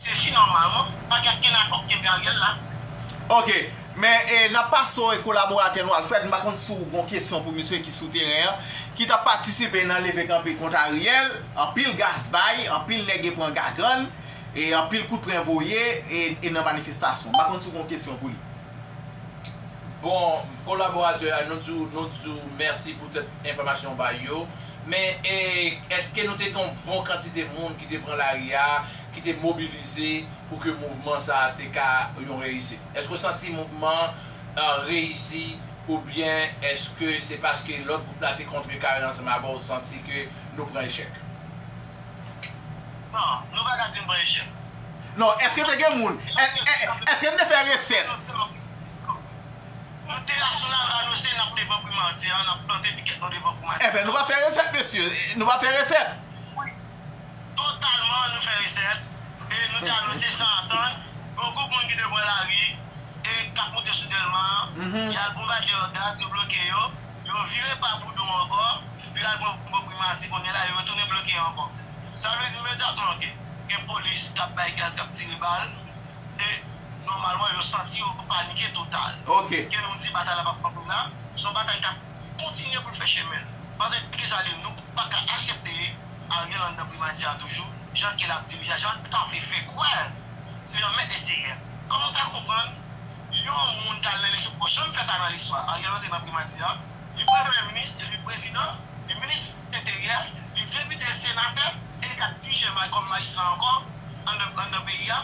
Se si nòmalman pa gen okenn akò k kenbe Ariel la. Ok, men e nap pase w e kolaboratè nou Alfred, m pa konn si w gon kesyon pou misye ki sou teren an, ki tap patisipe nan leve kanpe kont Ariel, anpil gaz bay, anpil nèg e pran gagann, e anpil kout pren voye e nan manifestasyon. M pa konn si w gon kesyon pou li. Bon, kolaboratè a, nou di w, nou di w mèsi pou tèt enfòmasyon w bay yo, men e èske nou te gen yon bon kantite moun ki te pran lari a? ki te mobilize pou ke mouvman sa a te ka yon reyisit? Èske w santi mouvman an reyisi oubyen èske se paske lòt gwoup la te kontrekare ansanm avè w ou santi ke nou pran echèk? Non, nou pa ka di n pran echèk. Non, èske te gen moun? Èske n te fè resèt? Nou te la sou la lwa nou se n ap devan primati an, n ap plante pikèt nou devan primati an. Enben nou pa fè resèt mesye, nou pa fè resèt. Totalman nou fè resèt e nou te anonse san atann gen yon gwoup moun ki te pran lari e k ap moute sou Dèlma an, y al bonbade yo ak gaz, yo bloke yo, yo vire pa Boudon ankò, pou y al pran bò Primati, kounye la yo retounen bloke yo ankò. Sa vle di imedyatman ke gen polis k ap bay gaz, k ap tire bal e nòmalman yo santi yo panike total. Ke nou di batay la p ap kanpe la, se yon batay k ap. kontinye pou l fè chemen l. Pase di sa de nou pa ka asepte Ariel anndan primati a toujou jan ke l ap dirije a jan l ta vle fè kwè se li an mèt eksteryè. Kòman w ta konprann yon moun ka al nan eleksyon poko janm fè sa nan listwa Ariel antre nan primati a li premye minis e li prezidan li minis enteryè li depite senatè e li ka dirije kòm majistra ankò anndan peyi a.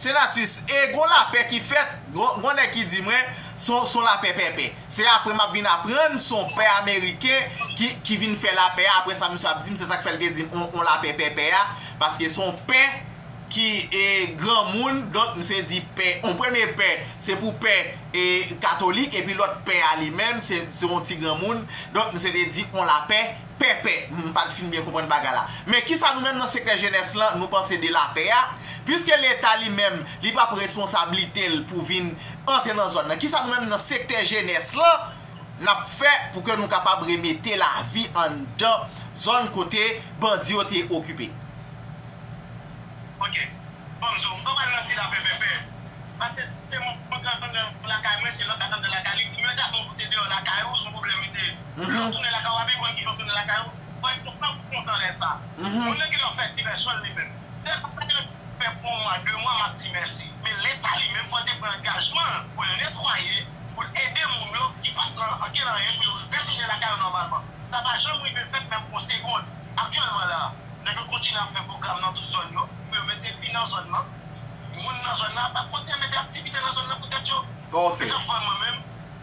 Senatus, e gon lapè ki fèt, gon nèg ki di mwen, son lapè pèpè. Se apre m ap vin aprann son pè ameriken ki vin fè lapè a, apre sa misye ap di m se sa k fè l te di m on lapè pèpè a, paske son pè ki granmoun, donk misye di pè, on premye pè, se pou pè katolik, epi lòt pè a li menm, se on ti granmoun, donk misye te di on lapè. Pèpè, M pa t fin byen konprann bagay la. Men kisa nou menm nan sektè jenès lan nou panse de lapè a? Piske leta li menm li pa pran responsablite l pou vin antre nan zòn nan, kisa nou menm nan sektè jenès lan n ap fè pou ke nou kapab remete lavi anndan zòn kote bandi yo te okipe? Ok. Ban m di w, m pa pral nan di lapè pèpè. Pase se m antre anndan lakay mwen, se lòt k ap antre lakay li. Imediatman ou te deyò lakay ou, s on pwoblèm li te ye. Lèw tounen lakay wap vin konn kijan w tounen lakay ou, wèl te pran kou kontan lè sa. Moun nan gentan fè divèsyon l li menm. Se pa bagay mwen te fè pou yon mwa, de mwa map di mèsi. Men leta li menm fòl te pran angajman l pou l netwaye, pou l ede moun yo ki pat nan ankenn anyen pou yo retounen lakay yo nòmalman. Sa pa janm rive fèt menm pou yon segond. Aktyèlman la, nèg yo kontinye ap fè pwogram nan tout zòn yo pou yo mete fi nan zòn nan. Moun nan zòn nan ap kontinye mete aktivite nan zòn nan pou tèt yo. Men sa m fè mwen menm.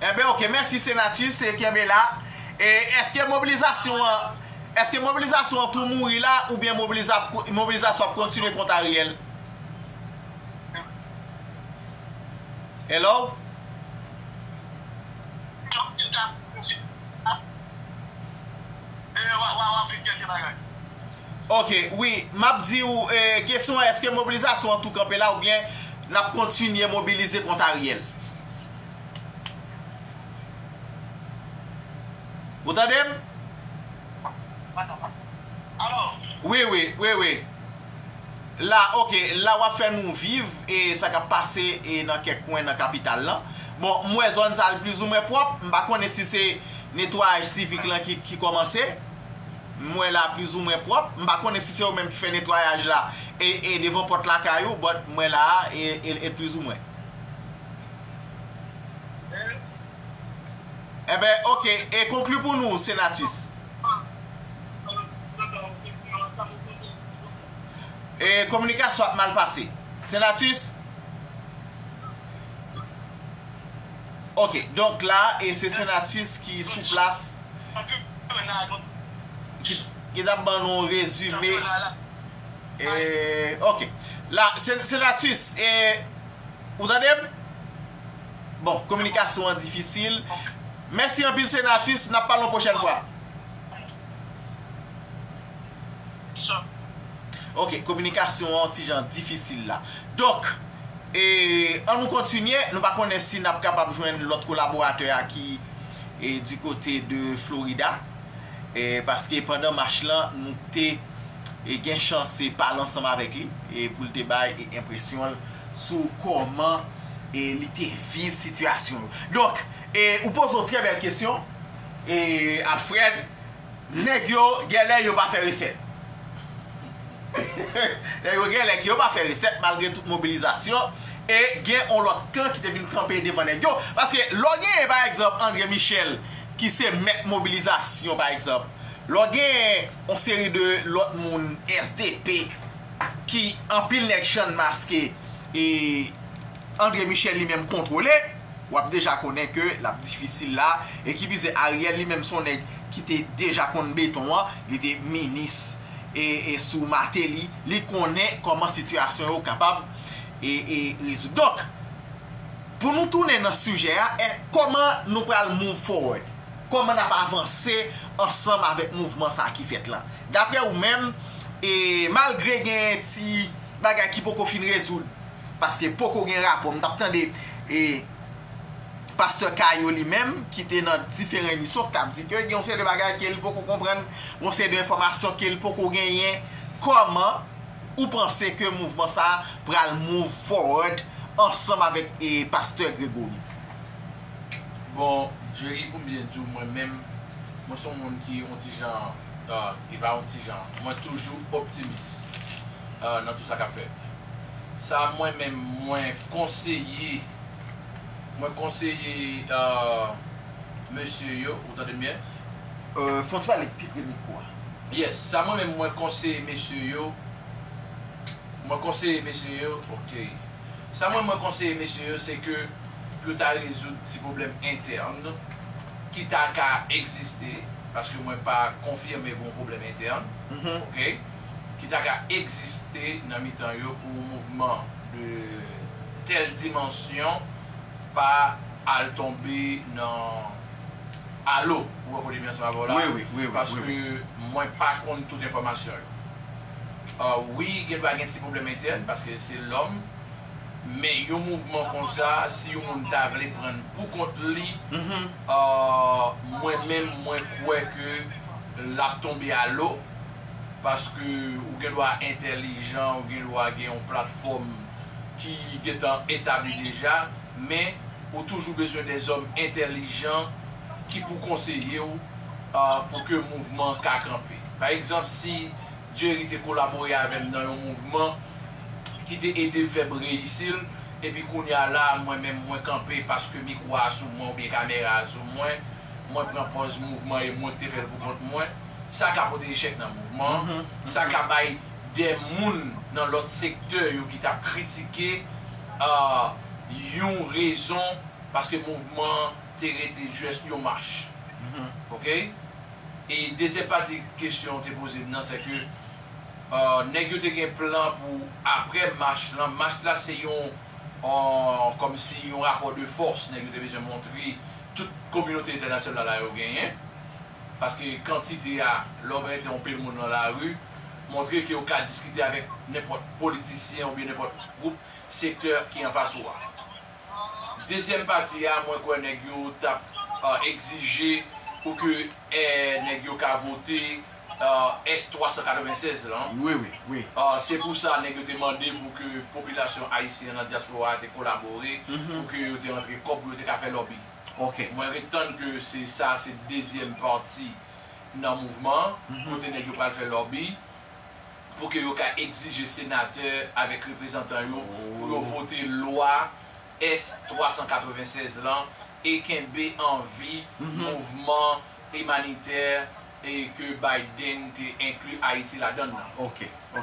Enben ok mèsi senatus kenbe la e eske mobilizasyon an eske mobilizasyon an tou mouri la oubyen mobilizasyon ap kontinye kont Ariel Hello. Ok wi map di ou kesyon an eske mobilizasyon an tou kanpe la oubyen nap kontinye mobilize kont Ariel. Ou tande m? Alo? Wi, wi, wi, wi. La, ok, la w ap fè nou viv e sa k ap pase e nan kèk kwen nan kapital lan. Bon, m wè zòn sa l plizoumwen pwòp. M pa konnen si se netwayaj sivik lan ki kòmanse. M wè la plizoumwen pwòp. M pa konnen si se ou menm ki fè netwayaj la e devan pòt lakay ou, but m wè la a e l plizoumwen. Eben ok e konkli pou nou senatus. E kominikasyon ap mal pase. Senatus. Ok donk la e se senatus ki sou plas ki tap ban nou rezime. Eeh ok la senatus eeh ou tandem bon kominikasyon an difisil mèsi anpil senatus nap pale yon pwochèn fwa ok kominikasyon an ti jan difisil la donk eeh an nou kontinye nou pa konnen si nap kapab jwenn lòt kolaboratè a ki di kote de florida eeh paske pandan mach lan nou te e gen chans se pale ansanm avèk li e pou l te bay e enpresyon l sou kòman e li te viv sitiyasyon yo. Donk, e ou poze yon trè bèl kesyon e Alfred, nèg yo genlè yo pa fè resèt. Nèg yo genlè ke yo pa fè resèt malgre tout mobilizasyon e gen yon lòt kan ki te vin kanpe devan nèg yo. Paske lè w genyen pa egzanp Andre Michel ki se mèt mobilizasyon pa egzanp, lè w genyen. On seri de lòt moun SDP ki anpil nèg chan maske e Andre Michel li menm kontwole, wap deja konnen ke lap difisil la e ki pi ze Ariel li menm son nèg ki te deja konn beton an, li te minis e sou Martelly, li konnen kòman sitiyasyon yo kapab e rezoud. Donk pou nou tounen nan sijè a, kòman nou pral move forward? Kòman n ap avanse ansanm avèk mouvman sa a ki fèt la? Daprè ou menm, e malgre gen ti bagay ki poko fin rezoud, paske poko gen rapò, m t ap tande e pastè Caillot li menm ki te nan diferan emisyon ki t ap di ke gen yon seri de bagay ke li poko konprann, gen yon seri de enfòmasyon ke li poko genyen, kòman ou panse ke mouvman sa a pral move forward ansanm avèk e pastè Grégory? Bon Jerry poum byen diw mwen menm mwen son moun ki on ti jan e pa on ti jan mwen toujou optimis nan tou sa kap fèt sa mwen menm mwen konseye mwen konseye mesye yo ou tandem byen. Fò ti pale pi pre mikwo a. Yes sa mwen menm mwen konseye mesye yo mwen konseye mesye yo ok. Sa mwen mwen konseye mesye yo se ke pou yo ta rezoud ti pwoblèm entèn ki ta ka egziste, paske mwen pa konfime gon pwoblèm entèn ok, ki ta ka egziste nan mitan yo pou yon mouvman de tèl dimansyon pa al tonbe nan alo, ou wè kote m ye ansanm avè w la, paske mwen pa konn tout enfòmasyon yo. Wi gen dwa gen ti pwoblèm entèn paske se lòm men yon mouvman konsa si yon moun ta vle prann pou kont li mwen menm mwen kwè ke lap tonbe a lo paske ou gen dwa entèlijan ou gen dwa gen yon platfòm ki gentan etabli deja men ou toujou bezwen de zòm entèlijan ki pou konseye ou pou ke mouvman ka kanpe. Pa egzanp, si Jerry te kolabore avè m nan yon mouvman ki te ede l fè breyisi l, epi kounye a la a mwen menm mwen kanpe paske mikwo a sou mwen oubyen kamera a sou mwen, mwen pran pòz mouvman e mwen ki te fè l poukont mwen, sa ka pote echèk nan mouvman an, sa ka bay dè moun nan lòt sektè yo ki t ap kritike yon rezon paske mouvman an te rete jès yon mach. Ok. E dezyèm pati kesyon ou te poze m nan, sèke nèg yo te gen plan pou aprè mach lan, mach la se yon kòmsi yon rapò de fòs nèg yo te bezwen montre tout kominote entènasyonal la yo genyen, paske kantite a, lè w gen te yon pil moun nan lari, montre ke ou ka diskite avèk nenpòt politisyen oubyen nenpòt gwoup, sektè ki anfas ou a. Dezyèm pati a mwen kwè nèg yo tap egzije pou ke nèg yo ka vote S. 396 lan. Se pou sa nèg yo te mande pou ke popilasyon ayisyen an nan dyaspora a te kolabore pou ke yo te rantre kòb pou yo te ka fè lòbi. Mwen ret tann ke se sa a se dezyèm pati nan mouvman an kote nèg yo pral fè lòbi. pou ke yo ka egzije senatè avèk reprezantan yo pou yo vote lwa S. 396 lan e kenbe an vi mouvman imanitè e ke Biden te enkli Ayiti ladann nan.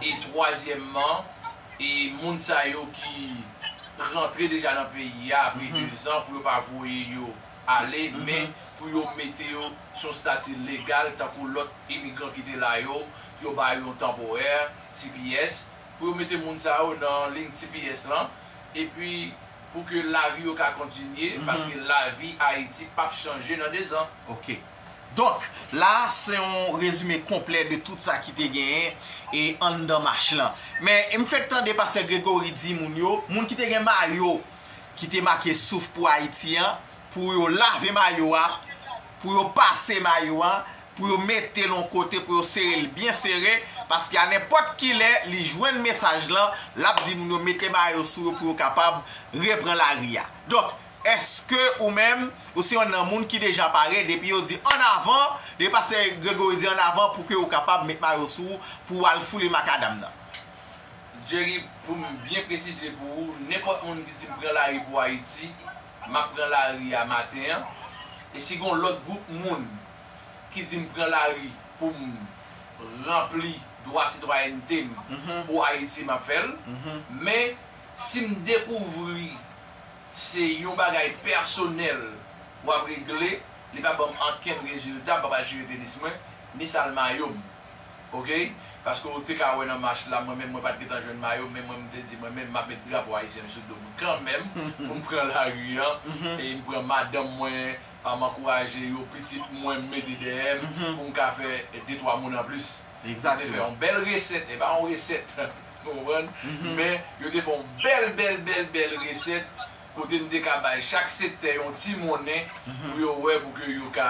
E twazyèmman, e moun sa yo ki rantre deja nan peyi a apre dezan pou yo pa voye yo. ale, men pou yo mete yo sou yon stati legal tankou lòt imigran ki te la yo, yo ba yo yon tanporè, tps, pou yo mete moun sa yo nan liy tps lan, epi pou ke lavi yo ka kontinye, paske lavi Ayiti p ap chanje nan dezan. Ok. Donk, la a se yon rezime konplè de tout sa ki te genyen e anndan mach lan. Men, m fèk tande pastè Gregory di moun yo, moun ki te gen mayo ki te make souf pou Ayiti an, pou yo lave mayo a, pou yo pase mayo a, pou yo mete l yon kote, pou yo sere l byen sere, paske a nenpòt ki lè li jwenn mesaj lan, l ap di moun yo mete mayo sou yo pou yo kapab repran lari a. Donk, èske ou menm, ou se yon nan moun ki deja pare, depi yo di an avan, depi pastè Gregory di an avan, pou ke ou kapab met mayo sou ou, pou ou al foule makadam nan? Jerry pou m byen presize pou ou nenpòt moun ki di m pran lari pou Ayiti m ap pran lari a maten an e si gon lòt gwoup moun ki di m pran lari pou m ranpli dwa sitwayènte m pou Ayiti m ap fè l men si m dekouvri se yon bagay pèsonèl w ap regle li pa ban m ankenn rezilta m pa pral chire tenis mwen ni sal mayo m. ok paske ou te ka wè nan mach la mwen menm mwen pat gentan jwenn mayo men mwen mte di mwen menm map met drapo ayisyen m sou dom kanmenm poum pran lari an e m pran madanm mwen m ankouraje yo pitit mwen m mete dèyè m poum ka fè de twa moun anplis yo te fè yon bèl resèt e pa yon resèt ou konprann men yo te fè yon bèl bèl bèl bèl resèt kote m te ka bay chak sektè yon ti monnen pou yo wè pou ke yo ka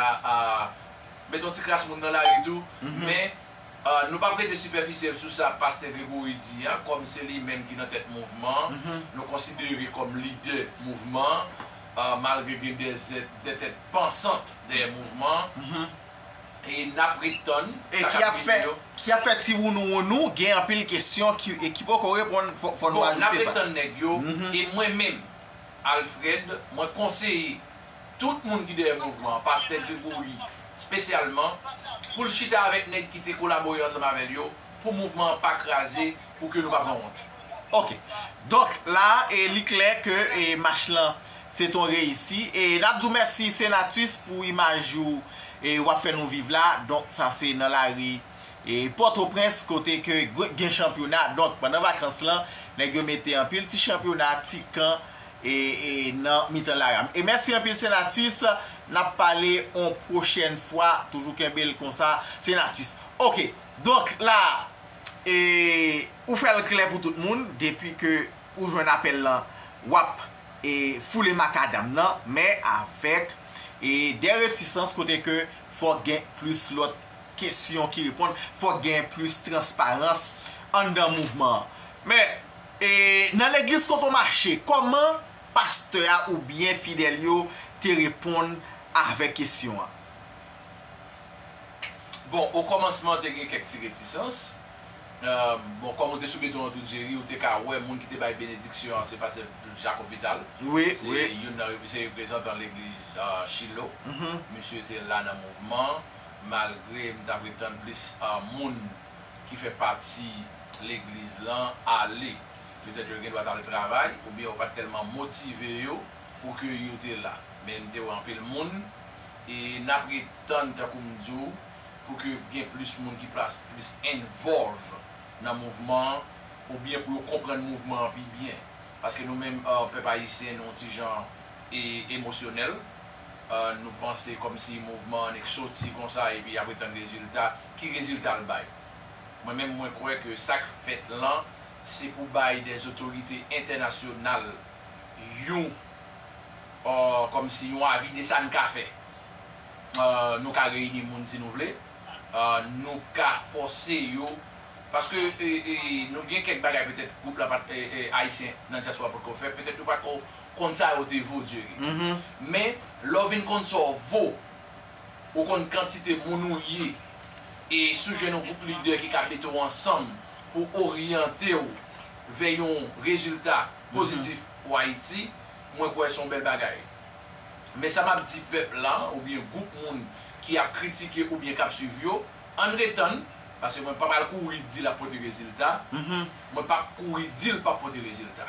Met yon ti kras moun nan lari tou, men nou pap rete sipèfisyèl sou sa Pastè Gregory di a, kòm se li menm ki nan tèt mouvman an, nou konsidere kòm lidè mouvman an, malgre gen de tèt pansant dèyè mouvman an, e n ap ret tann sa k ap vini yo. E ki ap fè ti wounou wounou, gen anpil kesyon ki poko reponn, fò nou ajoute sa. Bon, n ap ret tann nèg yo, e mwen menm, Alfred, mwen konseye tout moun ki dèyè mouvman an, pastè Gregory spesyalman, pou l chita avèk nèg ki te kolabore ansanm avè l yo, pou mouvman an pa kraze, pou ke nou pa pran wont. Ok. Donk, la a, e li klè ke e mach lan se t on reyisi. E n ap di w mèsi Senatus pou imaj ou e w ap fè nou viv la. Donk, sa se nan lari e Pòtoprens kote ke gen chanpyona. Donk, pandan vakans lan, nèg yo mete anpil ti chanpyona, ti kan. nan mitan la ram e mèsi anpil senatus nap pale on prochèn fwa toujou kenbe l konsa senatus ok donk la e ou fè l klè pou tout moun depi ke ou jwenn apèl lan wap e foule makadam nan men avèk e dè retisans kote ke fòk gen plis lòt kesyon ki reponn fòk gen plis transparans anndan mouvman an men. E nan legliz kote w mache, kòman pastè a oubyen fidèl yo te reponn avèk kesyon an? Bon, okòmansman te gen kèk ti retisans. Bon, kòm ou te sou beton an tou, Jerry, ou te ka wè moun ki te bay benediksyon an se pastè Jacob Vital. Se youn nan se reprezantan legliz Shilo. Misye te la nan mouvman an, malgre m t ap ret tann plis moun. ki fè pati legliz lan ale. Petèt yo gendwa t al travay oubyen yo pa t tèlman motive yo pou ke yo te la. Men m te wè anpil moun e n ap ret tann, tankou m di w, pou ke gen plis moun ki plas plis involve nan mouvman an oubyen pou yo konprann mouvman an pi byen. Paske nou menm pèp ayisyen nou yon ti jan emosyonèl, nou panse kòmsi mouvman an nèk soti konsa epi y ap ret tann rezilta. ki rezilta l bay? Mwen menm mwen kwè ke sa k fèt lan se pou bay dè zotorite entènasyonal yon kòm si yon avi de sa n ka fè. Nou ka reyini moun si nou vle, nou ka fòse yo paske nou gen kèk bagay petèt gwoup la pa t ayisyen nan dyaspora potko fè, petèt yo pa t ko konn sa yo te vo, Dieugue. Men lè w vin konn sa w vo Ou konn kantite moun ou ye e si w jwenn yon gwoup lidè ki ka mete w ansanm pou oryante w vè yon rezilta pozitif pou Ayiti, mwen kwè se yon bèl bagay. Men sa m ap di pèp la oubyen gwoup moun ki ap kritike oubyen k ap suiv yo, ann retann, paske mwen pa pral kouri di l ap pote rezilta, mwen p ap kouri di l p ap pote rezilta.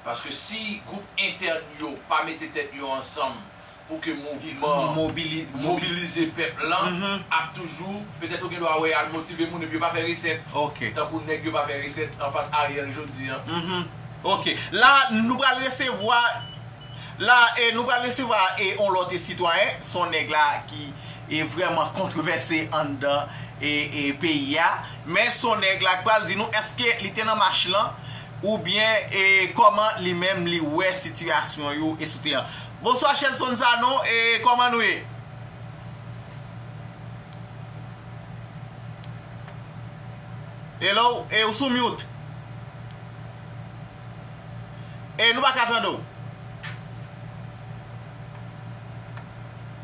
Paske si gwoup entèn yo pa mete tèt yo ansanm pou ke mouvman mobilize pèp lan ap toujou, petèt ou gen dwa wè y al motive moun epi yo pa fè resèt, tankou nèg yo pa fè resèt anfas Ariel jodi an. Ok. La a nou pral resevwa la a nou pral resevwa yon lòt sitwayen, s on nèg la a ki vrèman kontrevèse anndan peyi a, men s on nèg la a k pral di nou èske li te nan mach lan. ou byen e koman li menm li wè sitiyasyon yo esw an. Bonswa Shelson Sanon e koman nou ye? Hello e ou sou mute. E nou pa ka tande w.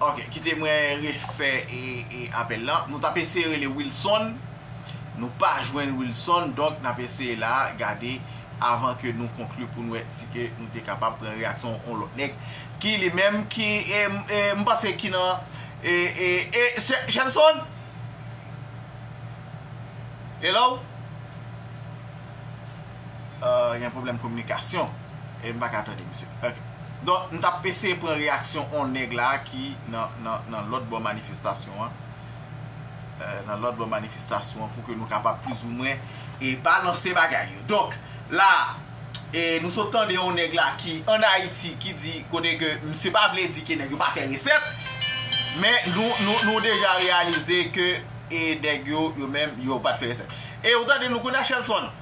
Ok kite mwen refè apèl lan Nou tap eseye rele Wilson Nou pa jwenn Wilson Donk nap eseye la gade Avan ke nou konkli pou nou wè Si ke nou te kapab pran reyaksyon yon lòt nèg Ki li menm ki M panse ki nan Shelson Hello Ahh gen pwoblèm kominikasyon e m pa ka tande misye ok. Donk m t ap eseye pran reyaksyon on nèg la ki nan lòt bò manifestasyon an, nan lòt bò manifestasyon an pou ke nou kapab plizoumwen e balanse bagay yo. Donk la e nou sot tande on nèg la ki an Ayiti ki di kote ke misye pa vle di ke nèg yo pa fè resèt men nou deja reyalize ke e nèg yo yo menm yo pa t fè resèt. E ou tande nou kounya Shelson?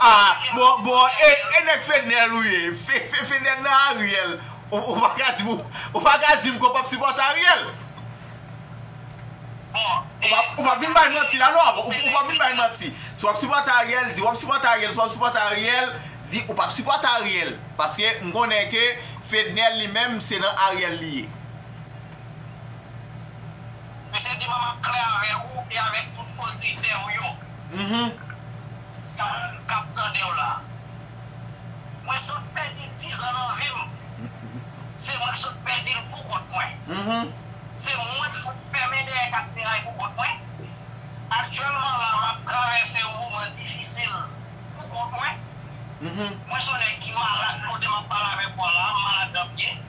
Ah bon bon e nèg fednel ou ye fednel nan ariel ou paka dim ou paka dim ke w pap sipòte ariel ou pap vin bay manti la non ou pap vin bay manti si wap sipòte ariel di wap sipòte ariel si wap sipòte ariel di ou pap sipòte ariel paske m konnen ke fednel li menm se nan ariel li ye misye di mwen map klè avèk ou e avèk tout oditè ou yo. Karen kap tandew la. Mwen sot pèdi 10 ans nan vim se mwen ki sot pèdil pou kont mwen se mwen ki sot fèmen dèyè 4 miray pou kont mwen aktyèlman la map travèse yon moman difisil pou kont mwen mwen son nèg ki malad kote map pale avèk ou a la malad 2 pye.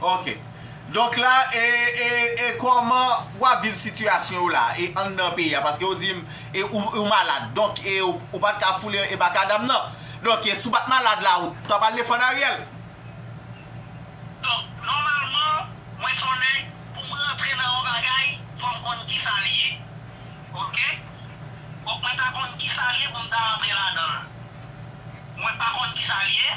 Ok donk la e e koman wap viv sitiyasyon ou la e anndan peyi a paske ou dim e ou malad donk e ou pat ka foule e makadam nan donk e si ou pat malad la ou tap al defann Ariel. Donk nòmalman mwen son nèg pou m rantre nan yon bagay fò m konn kisa li ye ok fòk mwen ta konn kisa li ye pou m ta rantre ladan l mwen pa konn kisa li ye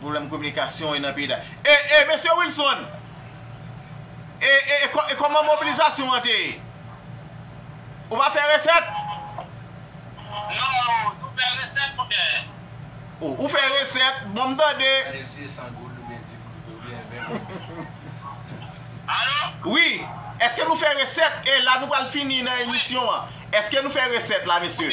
Pwoblèm kominikasyon e nan peyi da. E e mesye Wilson! E e e kòman mobilizasyon an te ye? Ou pa fè resèt? Non, nou fè resèt mon chè. O, ou fè resèt, bon m tande. Gade si se 100 goud oubyen 10 goud oubyen 20 goud. Alo? Wi, èske nou fè resèt e la nou pral fini nan emisyon an. Èske nou fè resèt la mesye?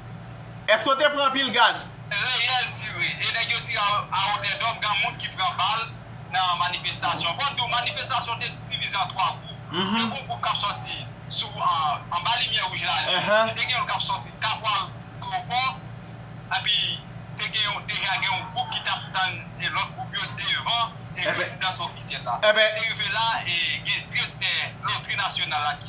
Eske w te pran anpil gaz? Reyèl tire e nèg yo tire awotèdòm gen moun ki pran bal nan manifestasyon. Fò n di w manifestasyon te divize an 3 gwoup. Te gen yon gwoup k ap sòti sou anba limyè wouj la li, te gen yon k ap sòti kapwal klopò epi te gen yon deja gen yon gwoup ki t ap tann lòt gwoup yo devan rezidans ofisyèl la. Se rive la e gen direktè lotri nasyonal la ki.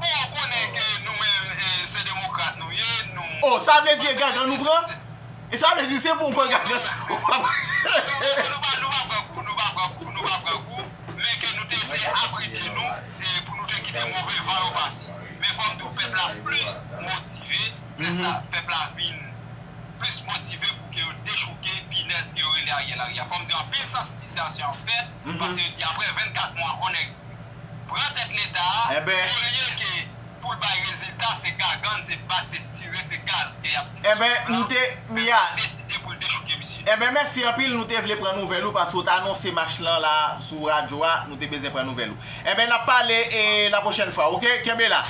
Bon ou konnen ke nou menm se demokrat nou ye nou. Oh sa vle di e gangan nou pran? E sa vle di se pou ou pran gangan ou pa pran. Nou pa nou pa pran kou nou pa pran kou nou pa pran kou men ke nou te eseye abrite nou pou nou te kite move van yo pase men fòk tou pèp la plis motive fè sa pèp la vin plis motive pou ke yo dechouke pinèz ke yo rele Ariel Henry a fòm di anpil sansibilizasyon ap fèt paske yo di aprè 24 mwa on nèg pran tèt leta a olye ke poul bay rezilta se gagann se bat se tire se gaz ke yap tire sou pèp la pèp la deside poul dechouke misye. Enben mèsi anpil nou te vle pran nouvèl ou paske ou t anonse match lan la sou radyo a nou te bezwen pran nouvèl ou enben nap pale e la pwochèn fwa ok kenbe la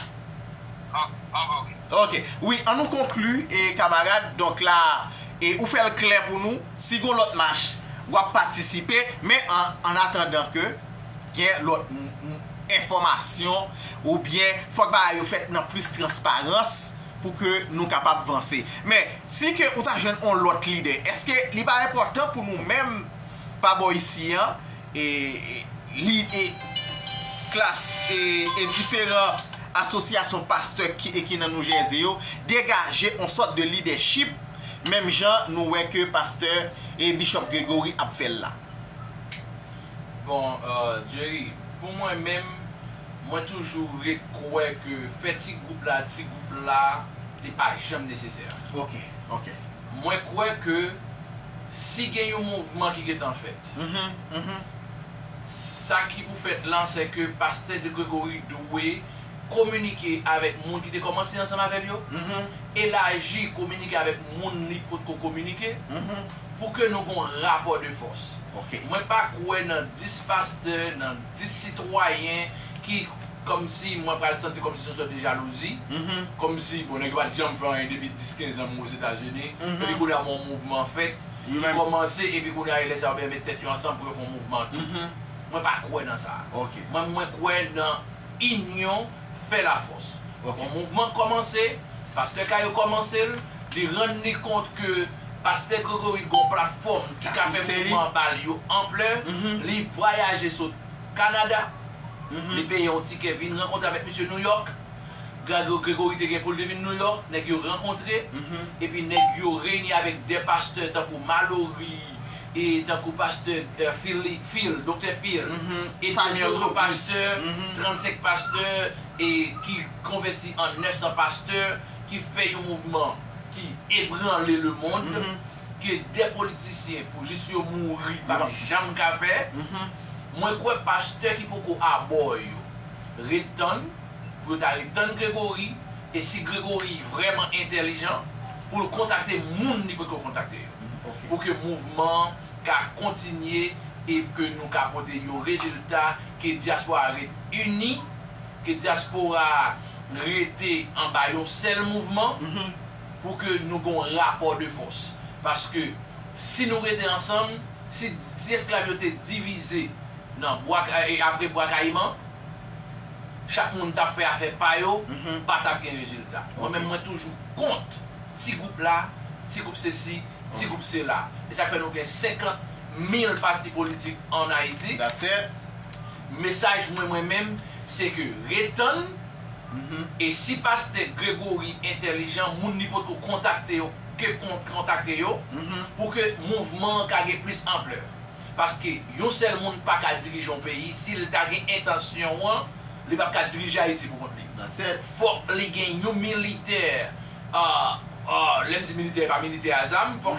ok wi an nou konkli e kamarad donk la e ou fèl klè pou nou si gon lòt match wap patisipe men an atandan ke. Gen lòt enfòmasyon ou byen fòk bagay yo fèt nan plis transparans pou ke nou kapab vanse. Men, si ke ou ta jwenn on lòt lide, eske li pa enpòtan pou nou menm pa bò isi an, li e klas e diferan asosyasyon pastè ki nan New Jersey yo degaje on sòt de lidèchip menm jan nou wè ke pastè e Bishop Gregory ap fè l la. Bon Jerry pou mwen menm mwen toujou ret kwè ke fè ti gwoup la ti gwoup la li pa janm nesesè. Ok ok. Mwen kwè ke si gen yon mouvman ki gentan fèt sa ki pou fèt lan se ke pastè de Gregory dwe kominike avèk moun ki te kòmanse ansanm avèl yo, elaji kominike avèk moun li potko kominike. pou ke nou gon rapò de fòs. Mwen pa kwè nan 10 pastè, nan 10 sitwayen ki kòmsi mwen pral santi kòmsi son sòt de jalouzi, kòmsi bon nèg yo pat janm fè anyen depi 10, 15 an mwen Ozetazini, epi kounye a gon mouvman fèt, ki kòmanse epi kounye a e lè sa yo byen met tèt yo ansanm pou yo fon mouvman tou. Mwen pa kwè nan sa. Mwen mwen kwè nan inyon fè lafòs. Gon mouvman k kòmanse, pastè Cayo kòmanse l, li rann li kont ke Pastè Gregory gon platfòm ki ka fè mouvman bal yo anplè, li vwayaje sot Kanada, li peye yon tikè vin rankontre avèk misye Nouyòk, Gregory te gen poul te vin Nouyòk, nèg yo rankontre, epi nèg yo reyini avèk de pastè tankou Malory, e tankou pastè Phil, Doktè Phil, e de zotr pastè, 35 pastè, e ki konvèti an 900 pastè, ki fè yon mouvman. ki ebranle le mond ke de politisyen pou jis yo mouri pap janm ka fè mwen kwè pastè ki poko abò yo ret tann pou yo ta ret tann Gregory e si Gregory vrèman entèlijan pou l kontakte moun li potko kontakte yo pou ke mouvman an ka kontinye e ke nou ka pote yon rezilta ke dyaspora ret ini. Ke dyaspora a rete anba yon sèl mouvman pou ke nou gen yon rapò de fòs. Paske si nou rete ansanm, si si esklav yo te divize nan bwa e apre bwa kayiman, chak moun t ap fè afè pa yo, pa t ap gen rezilta. Mwen menm mwen toujou kont ti gwoup la, ti gwoup sesi, ti gwoup sela. E sa k fè nou gen 50 mil pati politik an Ayiti. Mesaj mwen mwen menm se ke ret tann e si pastè Gregory entèlijan moun li potko kontakte yo ke kontakte yo pou ke mouvman an ka gen plis anplè paske yon sèl moun paka dirije yon peyi sil ta gen entansyon an li pap ka dirije Ayiti pou kont li fòk li gen yon militè lèm di militè e pa militè a zam fòk